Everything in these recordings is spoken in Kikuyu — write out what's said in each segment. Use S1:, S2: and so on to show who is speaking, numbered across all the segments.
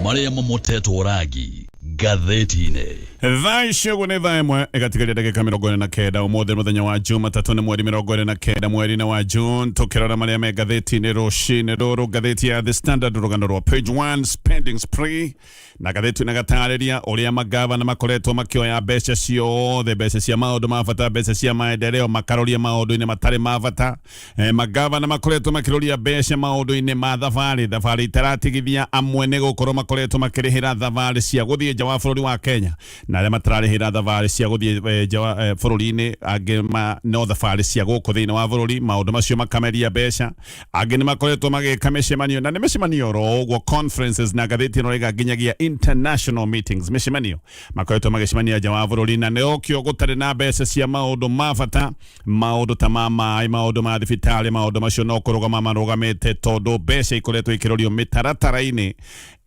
S1: Marĩa mamotetwo rangi ngathĩti-inĩ. Thaa ici
S2: ũguo nĩ thaa ĩmwe ĩgatigaria ndagĩka mĩrongo ĩrĩ na kenda. Ũmũthĩ nĩ mũthenya wa Jumatatũ, nĩ mweri mĩrongo ĩrĩ na kenda mweri-inĩ wa June. Tũkĩrora marĩa me ngathĩti-inĩ rũcinĩ rũrũ, ngathĩti ya The Standard rũgano rwa page one, spending spree, na ngathĩti na gatarĩria ũrĩa magavana makoretwo makĩoya mbeca ciothe, mbeca cia maũndũ ma bata, mbeca cia maendeleo, makaroria maũndũ-inĩ matarĩ ma bata. E, magavana makoretwo makiroria mbeca maundu-ini ma thabari thabari itaratigithia amwe ni gukorwo makoretwo makirihira thabari cia guthie nja wa bururi wa Kenya na aria matararihira thabari cia guthie e, nja wa e, bururi-ini angi ma, no thabari cia guku thiini wa bururi maundu macio makameria mbeca angi ni makoretwo magika micemanio na ni micemanio ro uguo conferences na ngatheti ino rega nginyagia international meetings micemanio makoretwo magicemania nja wa bururi na ni okio gutari na mbeca cia maundu ma bata maundu ta ma maĩ maundu ma thibitarĩ maundu macio no kũrũgama marũgamĩte tondũ mbeca ikoretwo ikĩrorio mĩtaratara-inĩ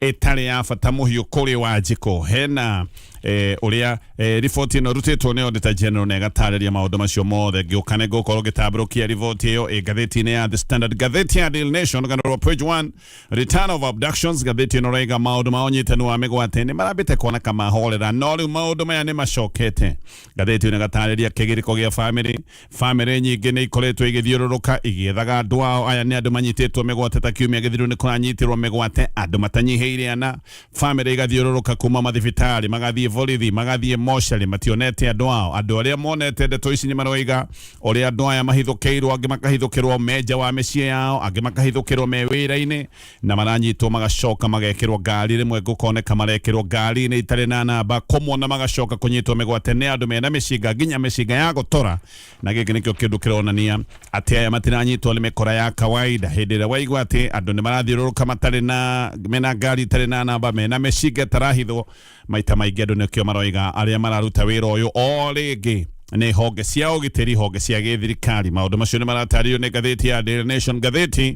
S2: ĩtarĩ ya bata mũhiũ kũrĩ wanjikũ hena eh, ũrĩa eh, riboti ĩno ĩrutĩtwo nĩ Auditor General na ĩgatarĩria maũndũ macio mothe ngĩũka nĩ ngũkorwo ngĩtambũrũkia riboti ĩyo ĩ ngathĩti-inĩ ya The Standard ngathĩti ya Daily Nation ganarwa page 1 return of abductions ngathĩti ĩno raiga maũndũ ma ũnyitani wa mĩgwate nĩ marambĩte kuoneka mahorera no rĩu maũndũ maya nĩ macokete Ngathĩti ĩno ĩgatarĩria kĩgirĩko gĩa bamĩrĩ. Bamĩrĩ nyingĩ nĩ ikoretwo igĩthiũrũrũka igĩethaga andũ ao. Aya nĩ andũ manyitĩtwo mĩgwate ta kiumia gĩthiru nĩ kũranyitirwo mĩgwate andũ matanyihĩire ana. Bamĩrĩ igathiũrũrũka kuma mathibitarĩ, magathiĩ borithi, magathiĩ mocarĩ mationete andũ ao. Andũ arĩa monete ndeto ici nĩ maroiga ũrĩa andũ aya mahithũkĩirwo, angĩ makahithũkĩrwo me nja wa mĩciĩ yao, angĩ makahithũkĩrwo me wĩra-inĩ. na maranyitwo magacoka magekĩrwo ngari rĩmwe gũkoneka marekĩrwo ngari-inĩ itarĩ na namba komwo na magacoka kũnyitwo mĩgwate nĩ andũ mena mĩcinga nginya mĩcinga ya gũtora na gĩkĩ nĩkĩo kĩndũ kĩronania atĩ aya matiranyitwo nĩ mĩkora ya kawaida hĩndĩ ĩrĩa waigua atĩ andũ nĩ marathiũrũrũka matarĩ na mena ngari itarĩ na namba mena mĩcinga ĩtarahithwo maita maingĩ andũ nĩkĩo maroiga arĩa mararuta wĩra ũyũ o rĩngĩ nĩ honge cia ũgitĩri honge cia gĩthirikari maũndũ macio nĩ maratarĩrio nĩ ngathĩti ya Daily Nation ngathĩti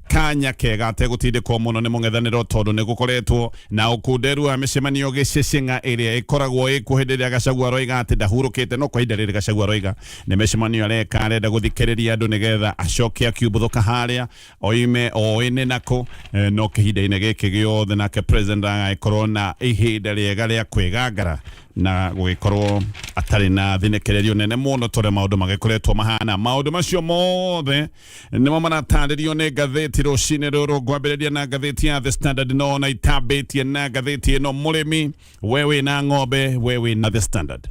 S2: kanya kega ategũtindĩkwo mũno nĩ mũng'ethanĩro tondũ nĩ gũkoretwo na ũkunderu wa mĩcemanio gĩcĩcĩng'a ĩrĩa ĩkoragwo ĩkuo hĩndĩ ĩrĩa gacagua aroiga atĩ ndahurũkĩte no kwa ihinda rĩrĩ gacagua aroiga nĩ mĩcemanio areka arenda gũthikĩrĩria andũ nĩgetha acoke akiumbũthũka harĩa oime oĩ nĩ nakũ Eh, no kĩhinda-inĩ gĩkĩ gĩothe nake president agagĩkorwo na ihinda rĩega rĩa kwĩgangara na gũgĩkorwo atarĩ na thinĩkĩrĩrio nene mũno tondũ maũndũ magĩkoretwo mahana maũndũ macio mothe nĩmo maratarĩrio nĩ ngathĩti rũcinĩ rũrũ ngwambĩrĩria na ngathĩti ya the standard no na itambĩtie na ngathĩti ĩno mũrĩmi we wĩ na ng'ombe we wĩ na the standard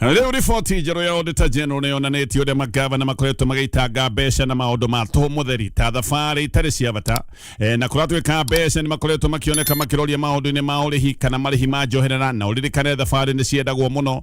S2: rĩu riboti njerũ ya auditor general nĩ yonanĩtie ũrĩa magavana makoretwo magĩitanga mbeca na maũndũ ma tũhũ mũtheri ta thabarĩ itarĩ cia bata e, na kũratuĩka mbeca nĩ makoretwo makĩoneka makĩroria maũndũ-inĩ ma ũrĩhi kana marĩhi ma njoherera na ũririkane thabarĩ nĩ ciendagwo mũno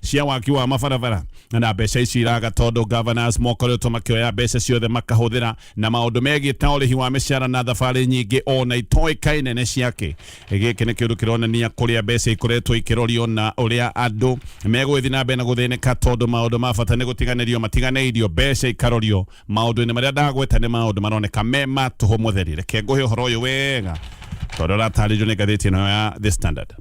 S2: cia waki wa mabarabara na mbeca ici iraga tondũ governors mokoretwo makĩoya mbeca ciothe makahũthĩra na maũndũ megiĩ ta ũrĩhi wa mĩcara na thabarĩ nyingĩ o na itoĩka nene ciake gĩkĩ nĩ kĩndũ kĩronania kũrĩa mbeca ikoretwo ikĩrorio na ũrĩa andũ megũgĩthiĩ na mbere na gũthĩnĩka tondũ maũndũ ma bata nĩ gũtiganĩrio matiganĩirio mbeca ikarorio maũndũ-inĩ marĩa ndagweta nĩ maũndũ maroneka me ma tũhũ mũtheri reke ngũhe ũhoro ũyũ wega tondũ ũratarĩrio nĩ ngathĩti ĩno ya the standard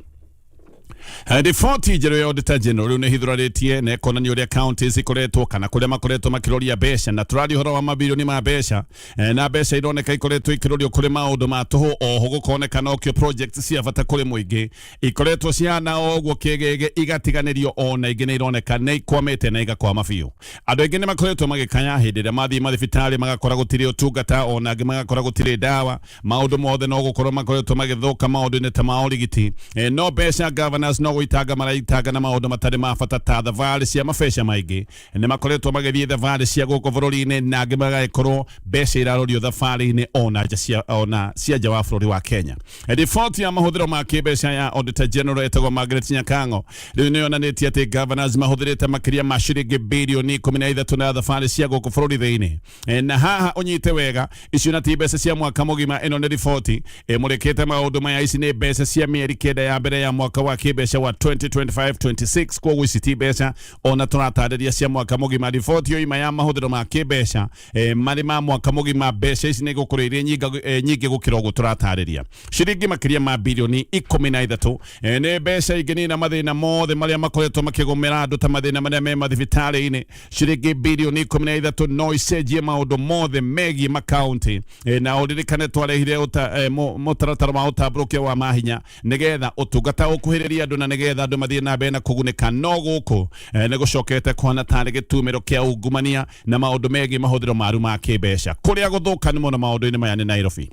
S2: Eh, Riboti njerũ ya Auditor General rĩu nĩ hithũrarĩtie na ĩkonania ũrĩa county cikoretwo kana kũrĩa makoretwo makĩroria mbeca na tũraria ũhoro wa mabirioni ma mbeca Eh, na mbeca ironeka ikoretwo ikĩrorio kũrĩ maũndũ ma tũhũ oho gũkoneka nokio project cia bata kũrĩ mũingĩ ikoretwo cihana o ũguo kĩgege igatiganĩrio o na ingĩ nĩ ironeka nĩ ikwamĩte na igakwama biũ andũ aingĩ nĩ makoretwo magĩkaya hĩndĩ ĩrĩa mathiĩ mathibitarĩ magakora gũtirĩ ũtungata o na angĩ magakora gũtirĩ ndawa maundu mothe no gukorwo makoretwo magithuka maundu-ini ta ma urigiti e, no mbeca governors no guitanga maraitanga na maundu matari ma bata ta thabarĩ cia mabeca maingi ni makoretwo magithii thabarĩ cia guku bururi-ini na angi magagikorwo mbeca irarorio thabarĩ-ini ona nja cia ona cia nja wa bururi wa Kenya e, riboti ya mahuthiro ma kibeca ya Auditor General etagwo Margaret Nyakango riu ni yonanitie ati governors mahuthirite makiria ma ciringi birioni ikumi na ithatu na thabarĩ cia guku bururi thiini E, na haha unyite wega icio na ti mbeca cia mwaka mugima ino ni riboti imurikite maundu maya ici ni mbeca cia mieri kenda ya mbere ya mwaka wa kimbeca wa 2025-26 koguo ici ti mbeca ona turatariria cia mwaka mugima riboti yo ima ya mahuthiro ma kimbeca e, mari ma mwaka mugima mbeca ici ni gukorwo iri nyinga- e, nyingi gukira uguo turatariria ciringi makiria ma bilioni ikumi na ithatu e, ni mbeca inginina mathina mothe maria makoretwo makigumira andu ta mathina maria me mathibitarĩ-inĩ ciringi bilioni ikumi na ithatu no icenjie maundu mothe megiĩ makaunti e, na ũririkane twarehire ũta- e, mũ- mũtaratara wa ũtambũrũkia wa mahinya nĩgetha ũtungata ũkuhĩrĩrie andũ na nĩgetha andũ mathiĩ na mbere na kũgunĩka no gũkũ e, nĩ gũcokete kũhana tarĩ gĩtumĩro kĩa ungumania na maũndũ megiĩ mahũthĩro maru ma kĩmbeca kũrĩa gũthũkanu mũno maũndũ-inĩ maya nĩ Nairobi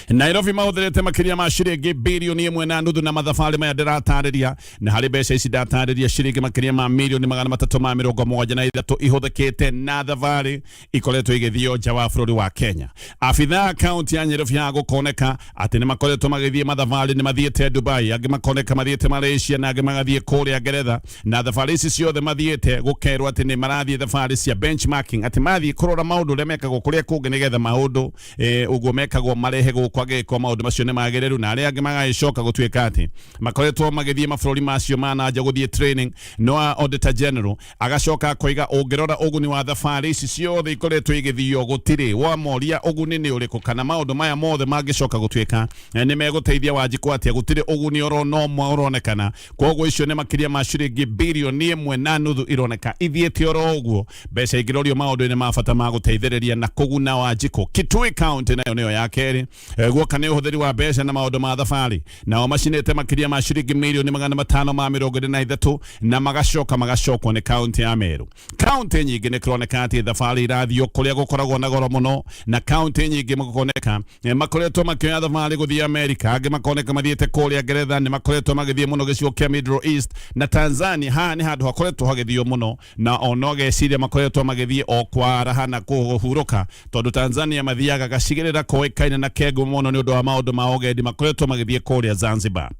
S2: nairobi mahũthĩrĩte makĩria ma ciringi bilioni ĩmwe na nuthu na mathabarĩ maya ndĩratarĩria na harĩ mbeca ici ndatarĩria ciringi makĩria ma milioni magana matatũ ma mĩrongo mũgwanja na ithatũ ihũthĩkĩte na thabarĩ ikoretwo igĩthiĩ nja wa bũrũri wa kenya abitha a kaunti ya nyairobi ya gũkoneka atĩ nĩ makoretwo magĩthiĩ mathabarĩ nĩ mathiĩte dubai angĩ makoneka mathiĩte malaysia na angĩ magathiĩ kũrĩa ngeretha na thabarĩ ici ciothe mathiĩte gũkerwo atĩ nĩ marathiĩ thabarĩ cia benchmarking atĩ mathiĩ kũrora maũndũ ũrĩa mekagwo kũrĩa kũngĩ nĩgetha maũndũ eh, ũguo mekagwo marehe gũkwa gĩko maũndũ macio nĩ magĩrĩru na arĩa angĩ magagĩcoka gũtuĩka atĩ makoretwo magĩthiĩ mabũrũri macio ma na nja gũthiĩ training no auditor general agacoka akoiga ũngĩrora ũguni wa thabarĩ ici ciothe ikoretwo igĩthiio gũtirĩ wamoria ũguni nĩ ũrĩkũ kana maũndũ maya mothe mangĩcoka gũtuĩka eh, nĩ megũteithia wanjikũ atĩa gũtirĩ ũguni orona ũmwe ũronekana koguo icio nĩ makĩria ma ciringi birioni ĩmwe na nuthu ironeka ithiĩte oro ũguo mbeca ingĩrorio maũndũ-inĩ ma bata ma gũteithĩrĩria na kũguna wanjikũ kitui county nayo nĩyo ya kerĩ Eh, guoka nĩ ũhũthĩri wa mbeca na maũndũ ma thabarĩ nao macinĩte makĩria ma ciringi mirioni magana matano ma mĩrongo ĩrĩ na ithatũ na magacoka magacokwo nĩ kaunti ya merũ Kaunti nyingĩ nĩ kũroneka atĩ thabarĩ irathiĩ kũrĩa gũkoragwo na goro mũno na kaunti nyingĩ makoneka eh, makoretwo makĩoya thabarĩ gũthiĩ Amerika, angĩ makoneka mathiĩte kũrĩa Ngeretha, nĩ makoretwo magĩthiĩ mũno gĩcigo kĩa Middle East na Tanzania. Haha nĩ handũ hakoretwo hagĩthiĩ mũno na ona ũgeciria makoretwo magĩthiĩ o kwaraha na kũhurũka, tondũ Tanzania mathiaga gacigĩrĩra koĩkaine na kengu mũno nĩ ũndũ wa maũndũ ma ũgendi makoretwo magĩthiĩ kũrĩa Zanzibar.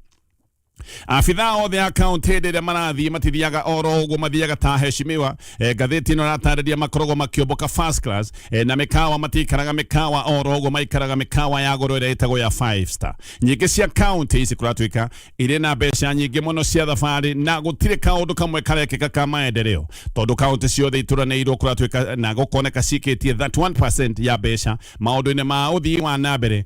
S2: abitha othe a kaunti hĩndĩ ĩrĩa marathiĩ matithiaga oro ũguo mathiaga ta heshimiwa e, ngathĩti ĩno ĩratarĩria makoragwo makĩũmbũka first class e, na mĩkawa matikaraga mĩkawa oro ũguo maikaraga mĩkawa ya goro ĩrĩa ĩtagwo ya five star nyingĩ cia kaunti ici kũratuĩka irĩ na mbeca nyingĩ mũno cia thabarĩ na gũtirĩ kaũndũ kamwe karekĩka ka maendeleo tondũ kaunti ciothe itũranĩirwo kũratuĩka na gũkoneka cikĩtie 31% ya mbeca maũndũ-inĩ ma ũthii wa na mbere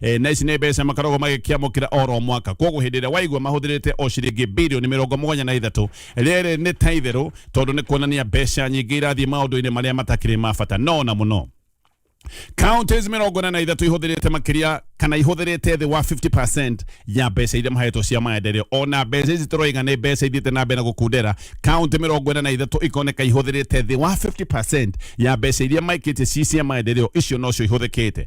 S2: e, na ici nä mbeca makoragwo magäkiamå kä ra oro mwaka koguo hä ndä ä rä a waigua mahå thä rä te o ciringi bilioni mä rongo må gwanja na ithatå rä rä nä ta itherå tondå nä kuonania mbeca nyingä irathiä maå ndå-inä marä a matakä rä ma bata no na må no counties mirongo ĩna na ithatũ ihũthĩrĩte makĩria kana ihũthĩrĩte thĩ wa 50% ya mbeca iria mahetwo cia maendeleo ona mbeca ici tũroiga nĩ mbeca ithiĩte na mbere na gũkundera county mĩrongo ĩna na ithatũ ikoneka ihũthĩrĩte thĩ wa 50% ya mbeca iria maikĩtie ci cia maendeleo icio nocio ihũthĩkĩte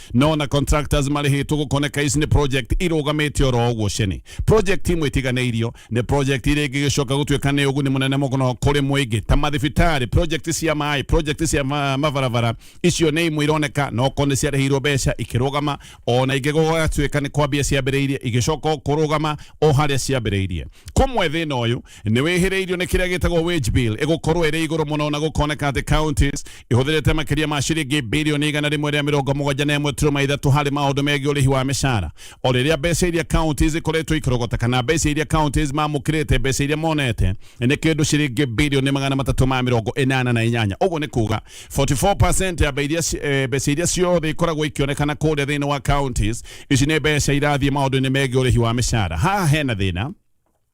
S2: no na contractors marĩhĩtwo gũkoneka ici nĩ project irũgamĩte oro ũguo ceni project imwe itiganĩirio nĩ project iria ingĩ gĩcoka gũtuĩka nĩ ũguni mũnene mũno kũrĩ mũingĩ ta mathibitarĩ project cia maĩ project cia ma, mabarabara icio nĩ imwe ironeka no ko nĩ ciarĩhĩirwo mbeca ikĩrũgama ona ingĩ gũgatuĩka nĩ kwambia ciambĩrĩirie igĩcoka o kũrũgama o harĩa ciambĩrĩirie kũmwe thĩna ũyũ nĩ wĩhĩrĩirio nĩ kĩrĩa gĩtagwo wage bill ĩgũkorwo ĩrĩ igũrũ mũno na gũkoneka atĩ counties ihũthĩrĩte makĩria ma ciringi bilioni igana rĩmwe rĩa mĩrongo mũgwanja na ĩmwe turuma ithatũ harĩ maũndũ megiĩ ũrĩhi wa mĩcara o rĩrĩa mbeca iria counties ikoretwo ikĩrogota kana mbeca iria counties mamũkĩrĩte mbeca iria monete nĩ kĩndũ ciringi bilioni magana matatũ ma mĩrongo ĩnana na inyanya ũguo nĩ kuga 44% ya mbe- iria ci- eh, mbeca iria ciothe ikoragwo ikĩonekana kũrĩa thĩinĩ wa counties ici nĩ mbeca irathiĩ maũndũ-inĩ megiĩ ũrĩhi wa mĩcara haha hena thĩna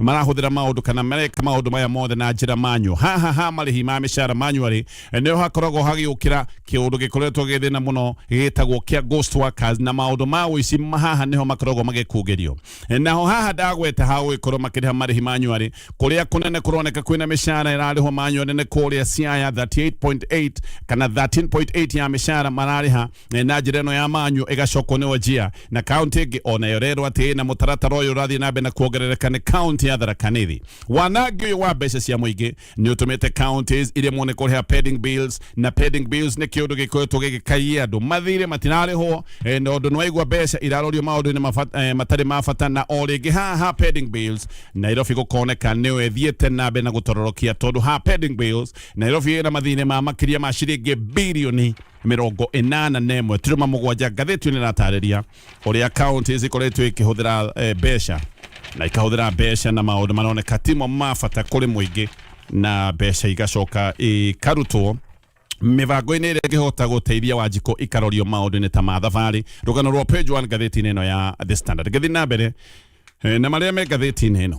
S2: marahũthĩra maũndũ kana mareka maũndũ maya mothe na njĩra manyu haha ha marĩhi ma mĩcara manuarĩ nĩho hakoragwo hagĩũkĩra kĩũndũ gĩkoretwo gĩ thĩna mũno gĩtagwo kĩa ghost workers na maũndũ ma ũici ma- haha nĩho makoragwo magĩkungĩrio naho haha ndagweta ha gũgĩkorwo makĩrĩha marĩhi manuarĩ kũrĩa kũnene kũroneka kwĩna mĩcara ĩrarĩhwo manuarĩ nĩ kũrĩa siaya 38.8 kana 13.8 ya mĩcara mararĩha Eh, na njira ino ya manyu igacokwo ni wajia na kaunti ingi ona yo rerwo ati na mutaratara uyu urathii na mbere na kuongerereka ni kaunti ya tharaka nithi wanangi uyu wa mbeca cia muingi ni utumite counties iria mone kuriha pending bills na pending bills ni kiundu gikoretwo gigikaia andu mathire matirarihwo eh, na undu nwaigua mbeca irarorio maundu-ini mabata- eh, matarĩ ma bata na o rĩngĩ haha pending bills nairobi gũkoneka nĩyo ĩthiĩte na mbere na gũtororokia tondũ ha pending bills nairobi ĩna mathĩna ma makĩria ma ciringi birioni mĩrongo ĩnana na ĩmwe turuma mũgwanja ngathĩti nĩ ĩratarĩria ũrĩa kaunti cikoretwo ikĩhũthĩra eh, mbeca na ikahũthĩra mbeca na maũndũ maroneka timo ma bata kũrĩ mũingĩ na mbeca igacoka ikarutwo mĩbango-inĩ ĩrĩa ĩngĩhota gũteithia wanjikũ ikarorio maũndũ-inĩ ta ma thabarĩ rũgano rwa page 1 ngathĩti-inĩ ĩno ya the standard ngathĩ na mbere eh, na marĩa me ngathĩti-inĩ ĩno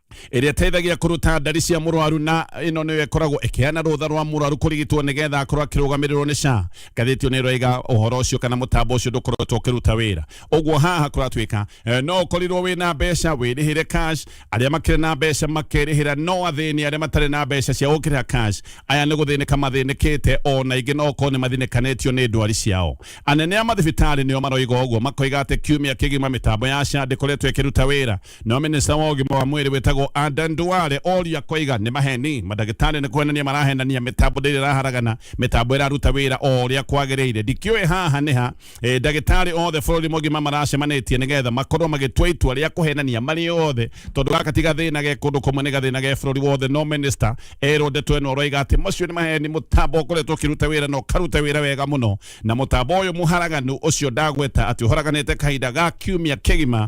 S2: ĩrĩa ĩteithagia kũruta ndari cia mũrwaru na ĩno nĩyo ĩkoragwo ĩkĩheana rũtha rwa mũrwaru kũrigitwo nĩgetha akorwo akĩrũgamĩrĩrwo nĩ SHA ngathĩti nĩ ĩroiga ũhoro ũcio kana mũtambo ũcio ndũkoretwo ũkĩruta wĩra ũguo haha kũratuĩka eh, no ũkorirwo wĩ na mbeca wĩrĩhĩre cash arĩa makĩrĩ na mbeca makerĩhĩra no athĩni arĩa matarĩ na mbeca cia gũkĩrĩha cash aya nĩ gũthĩnĩka mathĩnĩkĩte ona ingĩ no okorwo nĩ mathĩnĩkanĩtio nĩ ndwari ciao anene a mathibitarĩ nĩo maroiga ũguo makoiga atĩ kiumia kĩgima mĩtambo ya SHA ndĩkoretwo ĩkĩruta wĩra no minista wa ũgima wa mwĩrĩ wĩtagwo Aden Duale oria koiga nĩ maheni mandagĩtarĩ nĩ kwenania marahenania mĩtambo ndĩrĩ ĩraharagana mĩtambo ĩraruta wĩra o ũrĩa kwagĩrĩire ndikĩũĩ haha nĩ ha e, ndagĩtarĩ othe bũrũri mũgima maracemanĩtie nĩgetha makorwo magĩtua itua rĩa kũhenania marĩ othe tondũ gaka ti gathĩna ge kũndũ kũmwe nĩ gathĩna ge bũrũri wothe no minista erwo ndeto ĩno ũroiga atĩ macio nĩ maheni mũtambo ũkoretwo ũkĩruta wĩra na ũkaruta wĩra wega mũno na mũtambo ũyũ mũharaganu ũcio ndagweta atĩ ũharaganĩte kahinda ga kiumia kĩgima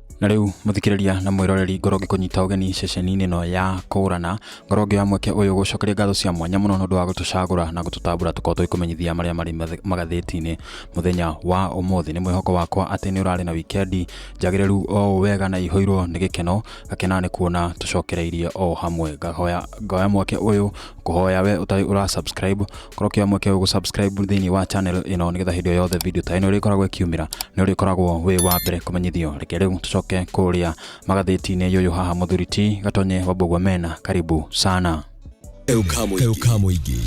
S3: na rĩu mũthikĩrĩria na mwĩroreri ngorwo ngĩkũnyita ũgeni ceceni-inĩ ĩno ya kũrana ngorwo ngĩoya mweke ũyũ gũcokeria ngatho cia mwanya mũno nĩ ũndũ wa gũtũcagũra na gũtũtambũra tũkorwo tũgĩkũmenyithia marĩa marĩ mathe- magathĩti-inĩ mũthenya wa ũmũthĩ nĩ mwĩhoko wakwa atĩ nĩ ũrarĩ na wikendi njagĩrĩru o ũũ wega na ihũirwo nĩ gĩkeno gakena nĩ kuona tũcokereirie o hamwe ngahoya ngoya mweke ũyũ kũhoya we ũtarĩ ũra subscribe korwo kĩa mweke ũgũ subscribe thĩinĩ wa channel ĩno nĩgetha hĩndĩ o yothe video ta ĩno ĩrĩkoragwo ĩkiumĩra nĩ ũrĩkoragwo wĩ wa mbere kũmenyithio reke rĩu tũcoke kũrĩa magathĩti-inĩ yũyũ haha mũthuri ti gatonye wambũgua mena karibu sana Kau
S4: ka mũingĩ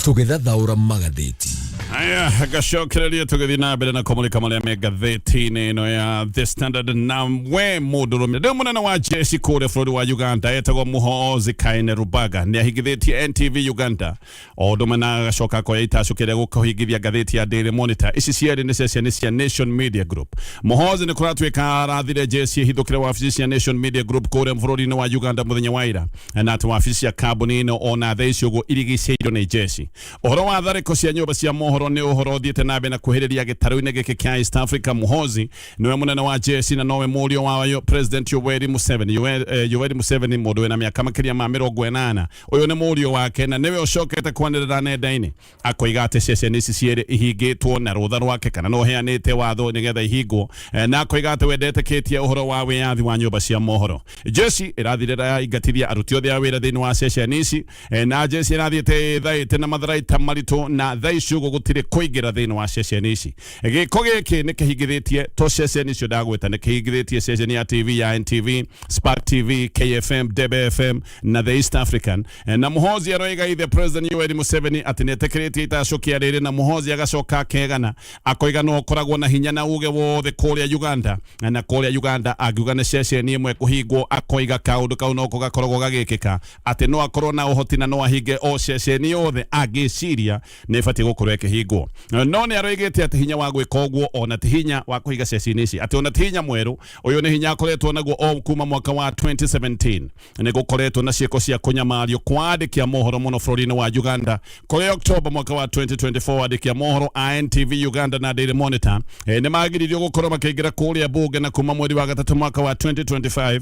S4: tũgĩthathaũra magathĩti haya
S2: gacokereria tũgĩthiĩ na mbere na kũmũrĩka marĩa me ngathĩti-inĩ ĩno ya the standard na we mũndũrũme ndĩ mũnene wa jeshi kũrĩa bũrũri wa uganda etagwo muhoozi kaine rubaga nĩ ahingithĩtie ntv uganda o ũndũ ũmwe na agacoka akoya itacũkĩrĩa gũkũhingithia ngathĩti ya daily monitor ici cierĩ nĩ ceceni cia nation media group muhoozi nĩ kũratuĩka arathire jeshi ĩhithũkĩre wabici cia nation media group kũrĩa bũrũri-inĩ wa uganda mũthenya wa ira na atĩ wabici cia kambuni ĩno ona thaa ici ũguo irigicĩirio nĩ jeshi Ũhoro wa tharĩko cia nyũmba cia mohoro nĩ ũhoro ũthiĩte na mbere na kuhĩrĩria gĩtarũ-inĩ gĩkĩ kĩa East Africa. Muhozi nĩwe mũnene wa jeshi na nowe mũriũ wa yo- President Yoweri Museveni. Yowe- eh, Yoweri Museveni mũndũ wĩna mĩaka makĩria ma mĩrongo ĩnana. Ũyũ nĩ mũriũ wake na nĩwe ũcokete kwanĩrĩra nenda-inĩ akoiga atĩ ceceni ici cierĩ ihingĩtwo na rũtha rwake kana no heanĩte watho nĩgetha ihingwo Eh, na akoiga atĩ we ndetĩkĩtie ũhoro wa wĩyathi wa nyũmba cia mohoro. Jeshi ĩrathirĩra yaingatithia aruti othe a wĩra thĩinĩ wa ceceni ici E, na jeshi ĩrathiĩte ĩthaĩte na matharaita maritũ na thaa ici ũguo gũtirĩ kũingĩra thĩinĩ wa ceceni ici gĩko gĩkĩ nĩ kĩhingithĩtie to ceceni icio ndagweta nĩ kĩhingithĩtie ceceni ya tv ya ntv spark tv kfm debe fm na the east african E, na muhozi aroiga ithe president yoweri museveni atĩ nĩ etĩkĩrĩtie itacokia rĩrĩ na muhozi agacoka akegana akoiga no ũkoragwo na hinya na uge wothe kũrĩa uganda na kũrĩa uganda angiuga nĩ ceceni ĩmwe kũhingwo akoiga kaũndũ kau noko gakoragwo gagĩkĩka atĩ no akorwo na ũhoti na no ahinge o ceceni yothe angĩciria nĩ ĩbatiĩ gũkorwo ĩkĩhingwo no nĩ aroigĩte atĩ hinya wa gwĩka ũguo ona ti hinya wa kũhinga ceceni ici atĩ ona ti hinya mwerũ ũyũ nĩ hinya akoretwo naguo o kuma mwaka wa 2017 nĩ gũkoretwo na ciĩko cia kũnyamario kwa andĩki a mohoro mũno bũrũri-inĩ wa Uganda kũrĩ Oktoba mwaka wa 2024 andĩki a mohoro a NTV Uganda na Daily Monitor eh, nĩ magiririo gũkorwo makĩingĩra kũrĩa bunge na kuma mweri wa gatatũ mwaka wa 2025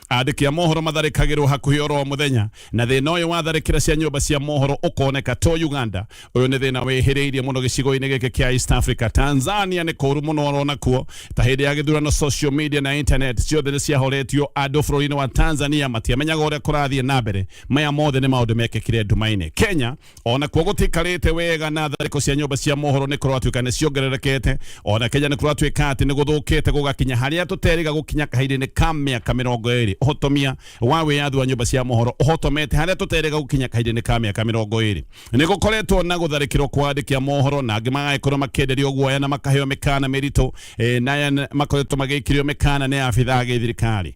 S2: Andĩki a mohoro matharĩkagĩrwo hakuhĩ oro mũthenya na thĩna ũyũ wa tharĩkĩra cia nyũmba cia mohoro ũkoneka to Uganda. Ũyũ nĩ thĩna wĩhĩrĩirie mũno gĩcigo-inĩ gĩkĩ kĩa East Africa. Tanzania nĩ kũru mũno oro nakuo. Ta hĩndĩ ya gĩthurano social media na internet ciothe nĩ ciahoretio. Andũ bũrũri-inĩ wa Tanzania matiamenyaga ũrĩa kũrathiĩ na mbere. Maya mothe nĩ maũndũ mekĩkire nduma-inĩ. Kenya ona kuo gutikarite wega na thariko cia nyumba cia mohoro ni kuratuika ni ciongererekete ona kenya ni kuratuika ati ni guthukite gugakinya haria tuteriga gukinya kahinda-ini ka miaka mirongo iri uhotomia wa wiyathi wa nyumba cia mohoro uhotomete haria tuteriga gukinya kahinda-ini ka miaka mirongo iri ni gukoretwo na gutharikirwo kwa andiki a mohoro na angi magagikorwo makienderio guoya na makaheo mikana miritu eh, na aya makoretwo magikirio mikana ni abitha a githirikari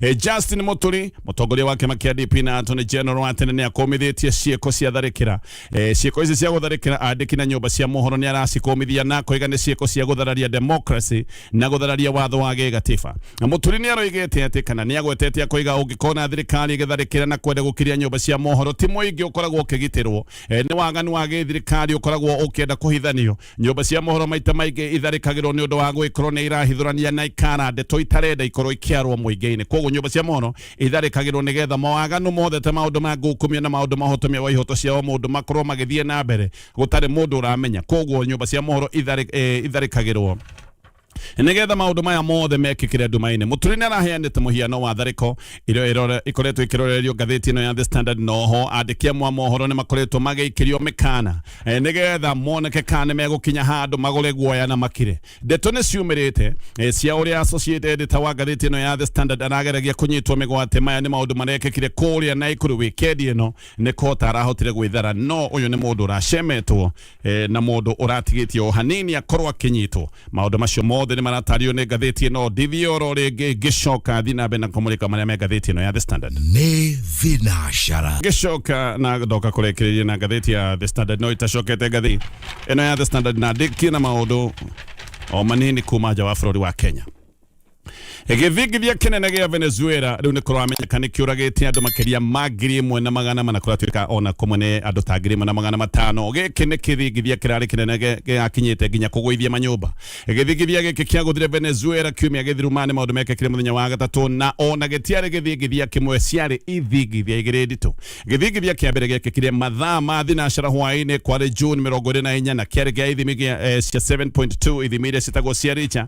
S2: E, Justin Muturi mutongoria wa kĩama kĩa DP na Attorney General wa tene nĩakũmithĩtie ciĩko cia tharĩkĩra e, ciĩko ici cia gũtharĩkĩra andĩki na nyũmba cia mohoro nĩ aracikũmithia na koiga nĩ ciĩko cia gũthararia democracy na gũthararia watho wa gĩgatiba Na Muturi nĩ aroigĩte atĩ kana nĩ agwetete akoiga ũngĩkona thirikari ĩgĩtharĩkĩra na kwenda gũkiria nyũmba cia mohoro ti mũingĩ ũkoragwo ũkĩgitĩrwo e, nĩ waganu wa gĩthirikari ũkoragwo ũkĩenda kũhithanio nyũmba cia mohoro maita maingĩ itharĩkagĩrwo nĩ ũndũ wa gwĩkorwo nĩ irahithũrania na ikara ndeto itarenda ikorwo ikiarwo mũingĩ-inĩ koguo nyũmba cia mohoro itharĩkagĩrwo nĩgetha mawaganu mothe ta maũndũ ma ngukumio na maũndũ mahotomia wa ihoto cia o mũndũ makorwo magĩthiĩ na mbere gũtarĩ mũndũ ũramenya koguo nyũmba cia mohoro itharĩkagĩrwo nĩgetha maũndũ maya mothe mekĩkĩre nduma-inĩ mũturi nĩ araheanĩte mũhiano wa tharĩko ĩrĩa ĩkoretwo ĩkĩrorerio ngathĩti ĩno ya The Standard noho andĩki amwe a mohoro nĩ makoretwo magĩikĩrio mĩkana e, nĩgetha moneke kana nĩ megũkinya handũ magũre guoya na makire ndeto nĩ ciumĩrĩte e, cia ũrĩa associate editor wa ngathĩti ĩno ya The Standard arageragia kũnyitwo mĩgwate maya nĩ maũndũ marekĩkire kũrĩa na ikũrũ wikendi ĩno nĩ kota arahotire gwĩthara no ũyũ nĩ mũndũ ũracemetwo eh, na må ndå å ratigä tie o hanini akorwo akä nyitwo maå ndå macio mothe nä maratario nä ngathä tä ä no ndithie oro rä ngä ngä coka thiä na mbere na kå må rä ka marä a me ngathä tä ä no ya the standard nĩ
S4: thinacara ngĩcoka na
S2: ndoka kũrekereria na ngathĩti ya the standard no itacokete ngathĩ ĩno ya the standard na ndĩkie na maũndũ o manini kuma nja wa bũrũri wa kenya gĩthingithia kĩnene gĩa venezuela rĩu nĩ kũramenyeka nĩ kĩũragĩte andũ makĩria ma ngiri ĩmwe na magana mana kũratuĩka ona kũmwe nĩ andũ ta ngiri ĩmwe na magana matano gĩkĩ nĩ kĩthingithia kĩrarĩ kĩnene gĩ- gĩgakinyĩte nginya kũgũithia manyũmba gĩthingithia gĩkĩ kĩagũthire venezuela kiumia gĩthiru ma nĩ maũndũ mekĩkire mũthenya wa gatatũ na ona gĩtiarĩ gĩthingithia kĩmwe ciarĩ ithingithia igĩrĩ nditũ gĩthingithia kĩa mbere gĩekĩkire mathaa ma thinacara hwaĩ-inĩ kwarĩ june mĩrongo ĩrĩ na inya na kĩarĩ gĩa ithimi gĩa eh, cia 7.2 ithimi iria ciĩtagwo cia richa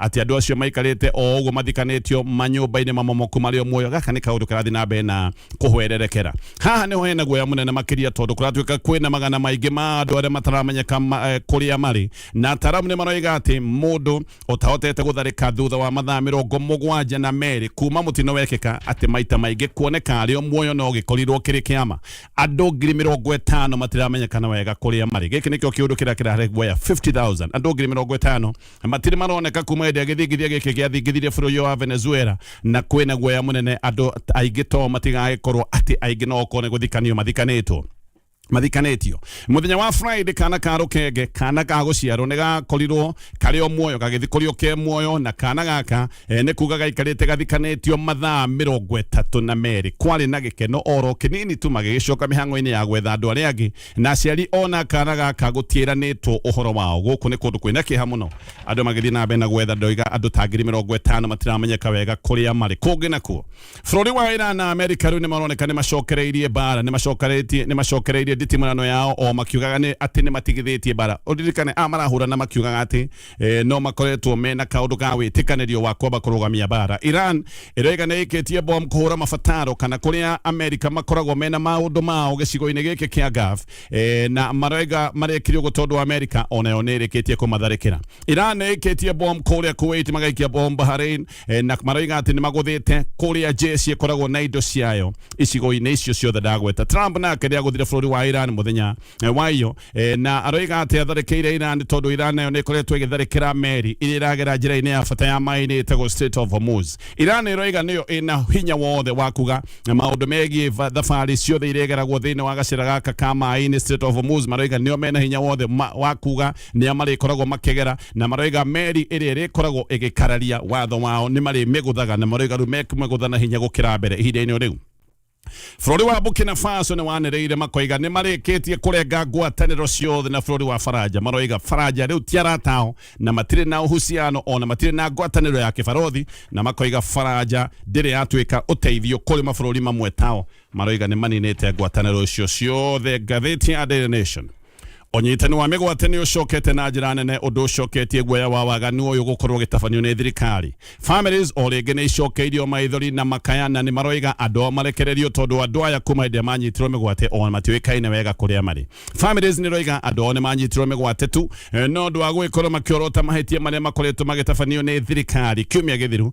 S2: atĩ andũ acio maikarĩte o ũguo mathikanĩtio manyũmba-inĩ mamomoku marĩ o muoyo gaka nĩ kaũndũ karathiĩ na mbere na kũhwererekera haha nĩho hena guoya mũnene makĩria tondũ kũratuĩka kwĩna magana maingĩ ma andũ arĩa mataramenyeka eh, kũrĩa marĩ na ataramu nĩ maroiga atĩ mũndũ ũtahotete gũtharĩka thutha wa mathaa mĩrongo mũgwanja na merĩ kuma mũtino wekĩka atĩ maita maingĩ kuoneka arĩ o muoyo no gĩkorirwo kĩrĩ kĩama andũ ngiri mĩrongo ĩtano matiramenyekana wega kũrĩa marĩ gĩkĩ nĩkĩo kĩũndũ kĩrĩa kĩrarehe guoya 50000 andũ ngiri mĩrongo ĩtano matirĩ maroneka kuma hĩndĩ ya gĩthingithia gĩkĩ gĩathingithirie bũrũri ũyũ wa venezuela na kwĩna guoya mũnene andũ aingĩ to matigagĩkorwo atĩ aingĩ no okorwo nĩ gũthikanio mathikanĩtwo mathikanĩtio mũthenya wa friday kana ka rũkenge kana ka gũciarwo nĩ gakorirwo karĩ o muoyo gagĩthikũrio ke muoyo na kana gaka e, nĩ kuga gaikarĩte gathikanĩtio mathaa mĩrongo ĩtatũ na merĩ kwarĩ na gĩkeno oro kĩnini tu magĩgĩcoka mĩhang'o-inĩ ya gwetha andũ arĩa angĩ na aciari ona kana gaka gutiĩranĩtwo ũhoro wao gũkũ nĩ kũndũ kwĩna kĩeha mũno andũ magĩthiĩ na mbere na gwetha ndoiga andũ ta ngiri mĩrongo ĩtano matiramenyeka wega kũrĩa marĩ kũngĩ nakuo bũrũri wa Iran na Amerika rĩu nĩ maroneka nĩ macokereirie bara nĩ macokereirie nĩ macokereirie nditimũrano yao o makiugaga nĩ atĩ nĩ matigithĩtie bara ũririkane a marahũrana makiugaga atĩ eh, no makoretwo mena kaundu ga witikanĩrio wa kwamba kũrũgamia bara iran ĩrĩa ĩganĩrĩkĩtie bom kũhũra mabataro kana kũrĩa amerika makoragwo mena maũndũ mao gĩcigo-inĩ gĩkĩ kĩa gaf eh, na marega marekirio gũtondũ amerika onayo nĩ ĩrĩkĩtie kũmatharĩkĩra iran nĩ ĩkĩtie bom kũrĩa kuwait magaikia bom bahrain eh, na maroiga atĩ nĩ magũthĩte kũrĩa jeshi ĩkoragwo na indo ciayo icigo-inĩ icio ciothe ndagweta trump nake nĩ agũthire bũrũri wa iran mũthenya eh, wa iyo E, na aroiga atĩ atharĩkĩire Iran tondũ Iran nayo nĩ ĩkoretwo ĩgĩtharĩkĩra meri iria iragera njĩra-inĩ ya bata ya maĩ-inĩ ĩtagwo Strait of Hormuz. Iran ĩroiga nĩyo ĩna hinya wothe wa kuga na maũndũ megiĩ va- thabarĩ ciothe iria igeragwo thĩinĩ wa gacĩra gaka ka maĩ-inĩ Strait of Hormuz. Maroiga nĩo mena hinya wothe ma- wa kuga nĩa marĩkoragwo makĩgera na maroiga meri ĩrĩa ĩrĩkoragwo ĩgĩkararia watho wao nĩ marĩmĩgũthaga na maroiga rĩu mekũmĩgũtha na hinya gũkĩra mbere ihinda-inĩ o rĩu. bũrũri wa burkina faso nĩ wanĩrĩire makoiga nĩ marĩkĩtie kũrenga ngwatanĩro ciothe na bũrũri wa faranja maroiga faranja rĩu ti aratao na matirĩ na ũhuciano ona matirĩ na ngwatanĩro ya kĩbarothi na makoiga faranja ndĩrĩ yatuĩka ũteithio kũrĩ mabũrũri mamwe tao maroiga nĩ maninĩte ngwatanĩro icio ciothe ngathĩti ya Daily Nation ũnyitani wa mĩgwate nĩ ũcokete na njĩra nene ũndũ ũcoketie guoya wa waganu ũyũ gũkorwo gĩtabanio nĩ thirikari families o rĩngĩ nĩ icokeirio maithori na makaya na nĩ maroiga andũ ao marekererio tondũ andũ aya kuma hĩndĩ manyitirwo mĩgwate o matiũĩkaine wega kũrĩa marĩ families nĩ roiga andũ ao nĩ manyitirwo mĩgwate tu eh, no ũndũ wa gũgĩkorwo makĩorota mahĩtia marĩa makoretwo magĩtabanio nĩ thirikari kiumia gĩthiru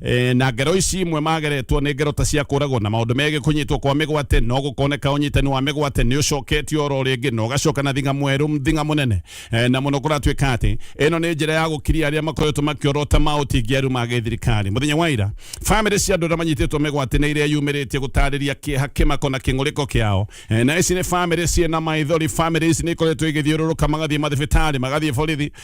S2: e, na ngero ici imwe mageretwo nĩ ngero ta cia kũragwo na maũndũ megiĩ kũnyitwo kwa mĩgwate no gũkoneka ũnyitani wa mĩgwate nĩ ũcoketio oro rĩngĩ na ũgacoka na thinga mwerũ thinga mũnene e, na mũno kũratuĩka atĩ ĩno nĩ njĩra ya gũkiria arĩa makoretwo makĩorota maũtingiaru ma gĩthirikari mũthenya wa ira bamĩrĩ cia andũ arĩa manyitĩtwo mĩgwate nĩ iria yumĩrĩtie gũtarĩria kĩeha kĩmako na kĩng'ũrĩko kĩao e, na ici nĩ bamĩrĩ ciĩ na maithori bamĩrĩ ici nĩ ikoretwo igĩthiũrũrũka magathiĩ mathibitarĩ magathiĩ borithi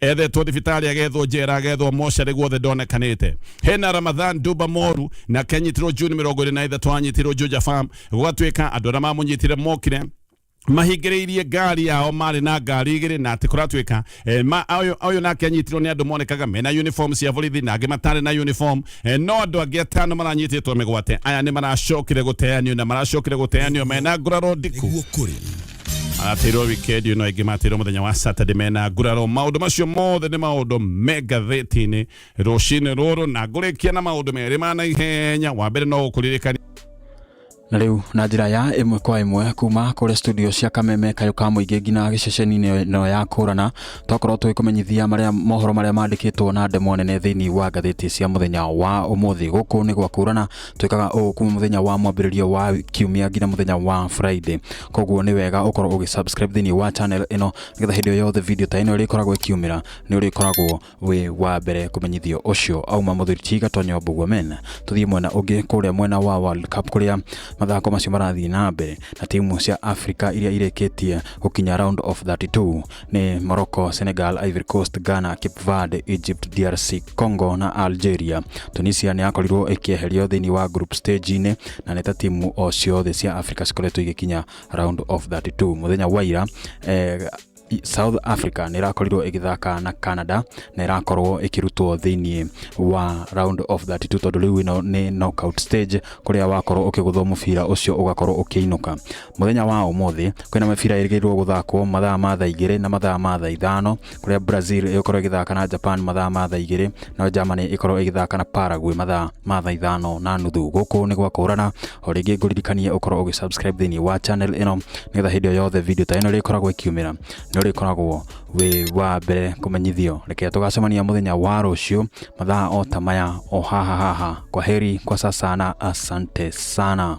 S2: ethetwo thibitarä agethwo njera agethwo mocarä guothe ndonekanäte hena ramadhan duba moru nake anyitirwo juni mä rongo ä rä na ithatå anyitirwo juja farm gwatuä ka andå arä a mamå nyitire mokire mahingĩrĩirie ngari yao marĩ na ngari igĩrĩ na atĩ kũratuĩka eh, ma- ũyũ ũyũ nake anyitirwo nĩ andũ monekaga mena uniform cia borithi na angĩ matarĩ na uniform eh, no andũ angĩ atano maranyitĩtwo mĩgwate aya nĩ maracokire gũteanio na maracokire gũteanio mena nguraro ndiku nĩguo kũrĩ atirwo wikendi ĩno ĩngĩ matirwo mũthenya wa saturday mena nguraro maũndũ macio mothe nĩ maũndũ me ngathĩti-inĩ rũcinĩ rũrũ na ngũrĩkia na maũndũ merĩ ma naihenya wa mbere no gũkũririkania na
S3: rĩu na njĩra ya ĩmwe kwa ĩmwe kuma kũrĩa studio cia kameme kayũ ka mũingĩ nginya gĩceceni-inĩ ĩno ya kũrana twakorwo tũgĩkũmenyithia marĩa mohoro marĩa mandĩkĩtwo na ndemwa nene thĩinĩ wa ngathĩti cia mũthenya wa ũmũthĩ gũkũ nĩ gwa kũrana twĩkaga ũũ kuma mũthenya wa mwambĩrĩrio wa kiumia nginya mũthenya wa friday koguo nĩ wega ũkorwo ũgĩsubscribe thĩinĩ wa channel ĩno nĩgetha hĩndĩ ĩyo yothe video ta ĩno ĩrĩkoragwo ĩkiumĩra nĩ ũrĩkoragwo wĩ wa mbere kũmenyithio ũcio auma mũthuri tiga tonyo mbuguo men tũthiĩ mwena ũngĩ kũrĩa mwena wa world cup kũrĩa mathako macio marathiĩ na mbere na timu cia africa iria irĩkĩtie gũkinya round of 32 ni Morocco, Senegal, Ivory Coast, Ghana, Cape Verde, Egypt, DRC Congo na Algeria. Tunisia nĩ yakorirwo ĩkĩeherio thĩinĩ wa group stage-inĩ na nĩ ta timu o ciothe cia Africa cikoretwo igĩkinya round of 32 mũthenya wa ira eh, South Africa nä ĩrakorirwo ĩgĩthaka na Canada na ĩrakorwo ĩkĩrutwo thĩinĩ wa round of 32 tondũ rĩu ĩno nĩ knockout stage kũrĩa wakorwo ũkĩgũthwo mũbira ũcio ũgakorwo ũkĩinũka Mũthenya wa ũmũthĩ kwĩna mĩbira ĩrĩgĩrĩirwo gũthakwo mathaa ma thaa igĩrĩ na mathaa ma thaa ithano kũrĩa Brazil ĩgũkorwo ĩgĩthaka na Japan mathaa ma thaa igĩrĩ nayo Germany ĩkorwo ĩgĩthaka na Paraguay mathaa ma thaa ithano na nuthu. Gũkũ nĩ gwa kũhũrana, o rĩngĩ ngũririkanie ũkorwo ũgĩ subscribe thĩinĩ wa channel ĩno nĩgetha hĩndĩ o yothe video ta ĩno ĩrĩkoragwo ĩkiumĩra nĩ ũrĩkoragwo wĩ wa mbere kũmenyithio. Reke tũgacemania mũthenya wa rũciũ mathaa o ta maya o haha haha. Kwa heri kwa sasa na asante sana.